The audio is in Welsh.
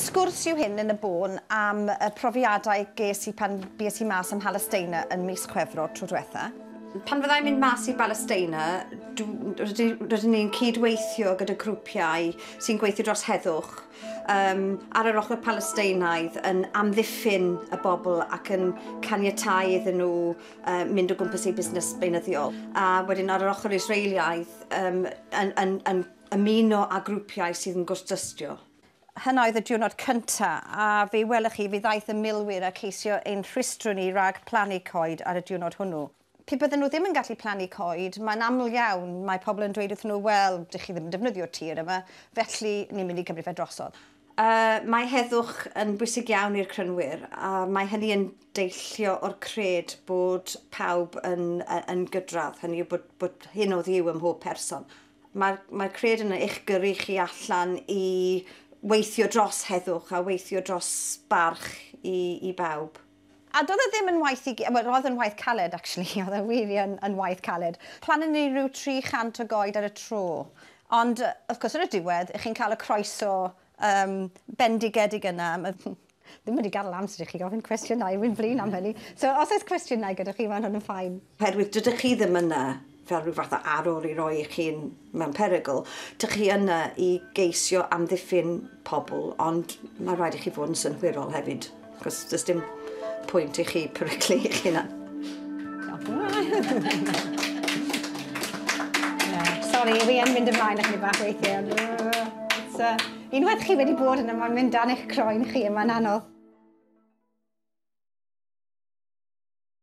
Sgwrs yw hyn yn y bôn am y profiadau ges i pan bues i mas ym Mhalesteina yn mis Chwefror tro dwetha. Pan fydda i'n mynd mas i Balesteina, rydyn ni'n cyd-weithio gyda grwpiau sy'n gweithio dros heddwch um, ar yr ochr Palesteinaidd yn amddiffyn y bobl ac yn caniatau iddyn nhw um, mynd o gwmpas ei busnes beunyddiol. A wedyn ar yr ochr Israeliaidd, um, yn, yn, yn ymuno â grwpiau sydd yn gwrthdystio. Hyn oedd y diwrnod cyntaf, a fe welwch chi, fe ddaeth y milwyr a ceisio ein rhwystro ni rhag plannu coed ar y diwrnod hwnnw. Pe bydden nhw ddim yn gallu plannu coed, mae'n aml iawn, mae pobl yn dweud wrth nhw, wel, dych chi ddim yn defnyddio tir yma, felly ni'n mynd i gymryd fe drosodd. Y mae heddwch yn bwysig iawn i'r Crynwyr a mae hynny yn deillio o'r cred bod pawb yn, yn gydradd, hynny yw bod, bod hyn o ddiw ym mhob person. Mae'r mae cred yn eich gyrru chi allan i weithio dros heddwch a weithio dros barch i, i bawb. A doedd e ddim yn waith i gyd, wel roedd yn waith caled actually, oedd e wir yn, yn waith caled. Plannu ni rhyw 300 o goed ar y tro. Ond wrth gwrs ar y diwedd, chi'n cael y croeso um, bendigedig yna. Ddim wedi gadael amser i chi ofyn cwestiynau, wy'n flin am hynny. So os oes cwestiynau gyda chi, mae hwn yn ffain. Oherwydd dydych chi ddim yna fel rhyw fath o arwr i roi eich hun mewn perygl, dych chi yna i geisio amddiffyn pobl, ond mae'n rhaid i chi fod yn synhwyrol hefyd, achos does dim pwynt i chi peryglu eich hunan. Sorry, fi yn mynd ymlaen â chi bach weithiau. Uh, unwaith chi wedi bod yna, mae'n mynd dan eich croen chi, mae'n anodd.